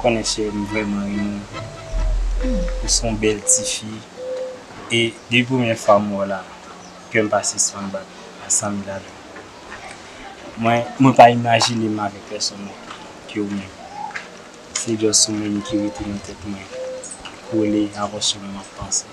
Ou konnen cheri m vrèman renmen w. Ou son bèl tifi e depi premyè fwa m wè w la kè m pa sispann bat a 100 mil alè. Mwen mwen pa imajine m avèk pèsonn lòt ke ou menm. Se just ou menm ki rete nan tèt mwen kole a vòch yo m ap panse.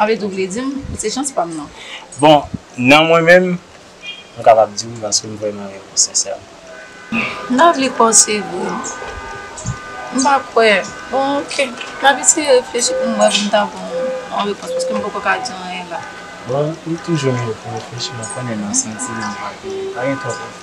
Anvet ou vle di m, se chans pa m non. Bon, nan mwen menm, m kapab di wi paske m vreman renmen w sensèman. M ta vle kwè w se vre. M pa kwè. Bon ok, m ap eseye reflechi pou m wè pou m ta ban w yon repons paske m poko ka di anyen la. Bon, m toujou menm pou reflechi, m konnen nan santiman pa gen, pa gen twòp reflechi.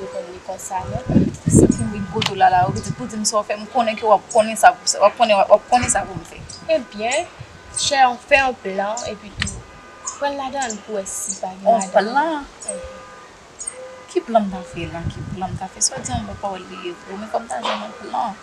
Yo konn li konsa non. Se pou wi poto lala ou pitit pou dim sa ou fè m konnen ke wap konnen sa wap konnen wap konnen sa poum fè. Ebyen chè an fè yon plan epi tou pran ladann pou wè si pa gen madanm. Yon plan? Ki plan m ta fè la ki plan m ta fè swa di an m wè pa wè l li ye vre men fòm ta jwenn yon plan.